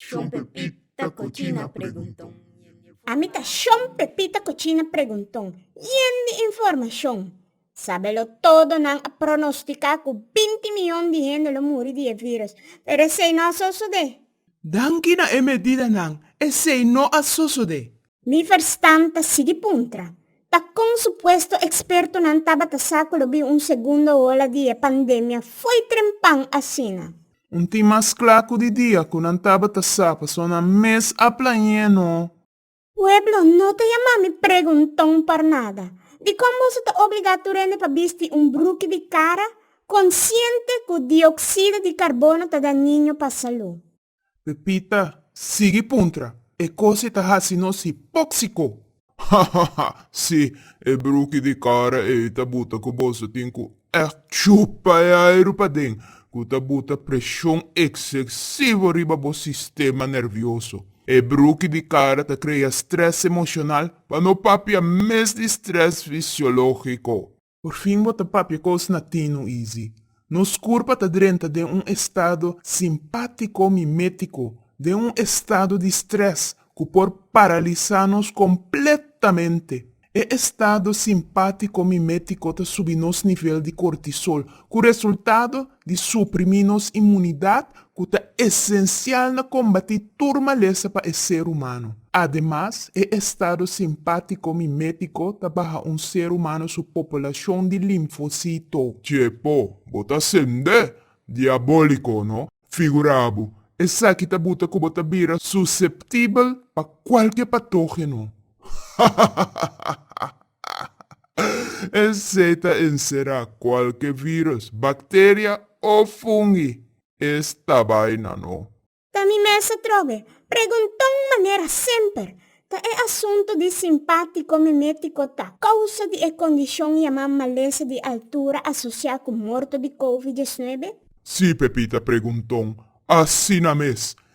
Shon Pepita Cochina Pregunton. Ami ta Shon Pepita Cochina Pregunton, yen di informashon. Sabe lo todo nan a pronostica cu binti miyon di hende lo muri di e virus, pero esey no a sosode. Danki na e medidanan, esey no a sosode. Liverstam ta sigui puntra, Pa kon supuesto ekspertonan tabata sa ku lo bin un segundo ola di e pandemia fo'i trempan asina? Un tin mas kla ku di dia ku nan tabata sa, pasobra nan mes a plañ'é no. Pueblo, no ta yama mi pregunton por nada. Dikon boso ta obligá tur hende pa bisti un bruki di kara, konsiente ku dioksida di karbono ta daniño pa salú? Pepita sigui puntra, E cos ei ta haci nos hipoxico! Hahaha! Si, e bruki di cara ei ta buta cu boso tin cu echt chupa e airu paden, cu ta buta presion excesivo riba bo sistema nervioso. E bruki di cara ta crea stress emocional pa no papia mes di stress fisiologico. Por fin bo ta papia cos natino Easy. Nos curpa ta drenta den un estado simpatico mimetico, den un estado di stress cu por paralisa nos completamente. E estado simpatico mimetico ta subi nos nivel di cortisol, cu resultado di suprimí nos inmunidat ku ta esensial na kombatí tur malesa pa e ser humano. Ademas, e estado simpátiko mimétiko ta baha un ser humano su populashon di linfosito. Chepo, bo ta sende diabóliko, no? Figurá bo, esaki ta buta ku bo ta bira suseptibel pa kualke patógeno. Hahahahahahahah! Esei ta encerá cualke virus, bacteria o fungi. Es tabaina no. Ta mi mes a trobe pregunton manera semper ta e asunto di simpático mimético ta causa di e condicion yamá malesa di altura asociá cu morto di covid diesnuebe? Sí Pepita pregunton asina mes.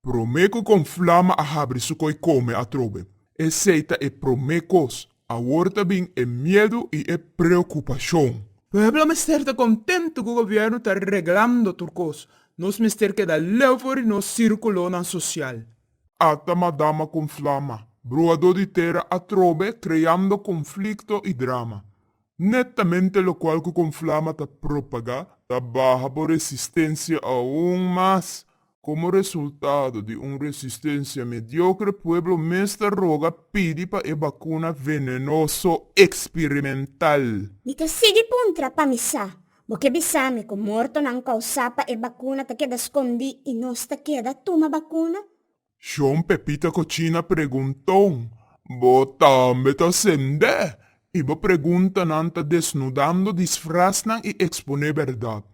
Promé ku kon Flama a habri su koi kome atrobe. Esei ta e promé kos. Awor ta bin e miedu i e preokupashon. Pueblo mester ta kontentu ku gobièrnu ta reglando tur kos. Nos mester keda leu for di nos sirkulonan sosial. Ata Madama kon Flama, bruadó di tera atrobe kreando konflikto i drama. Netamente lokual ku kon Flama ta propagá ta baha bo resistensia aun mas. Komo resultado di un resistensia mediokre, pueblo mes ta roga pidi pa e bakuna venenoso eksperimental. Mi ta sigui puntra pa mi sa, Bo ke bisa mi ku mortonan kousá pa e bakuna ta keda skondí i nos ta keda tuma bakuna? Shon Pepita Kochina pregunton, Bo tambe ta sendé I bo preguntanan ta desnudando disfraznan i eksponé bèrdat.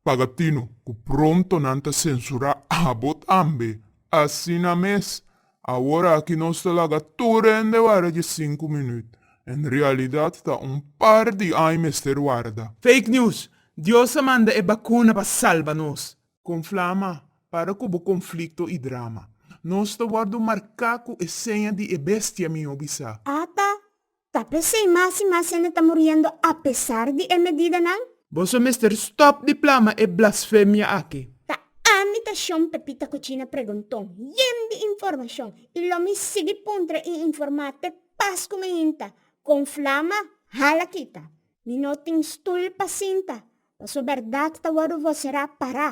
Paga tino ku pronto nan ta sensurá abo tambe. Asina mes! Awor aki nos ta laga tur rende wara dje sinku minüt. En realidat ta un par di aña mester warda. Fake news! Dios a manda e bakuna pa salba nos! Konflama, para ku bo konflikto i drama. Nos ta wòrdu marká ku e seña di e bestia mi yo bisa. Ata Ta p'esei mas i mas hende ta muriendo apesar di e medidanan? Boso mester stòp di plama e blasfemia aki. Ta ami ta Shon Pepita Kuchina Pregunton, yen di informashon i lo mi sigui puntra i informá te pas ku mi hinta kon flama hala kita. Mi no tin stul pa sinta, paso bèrdat ta wòrdu voserá pará.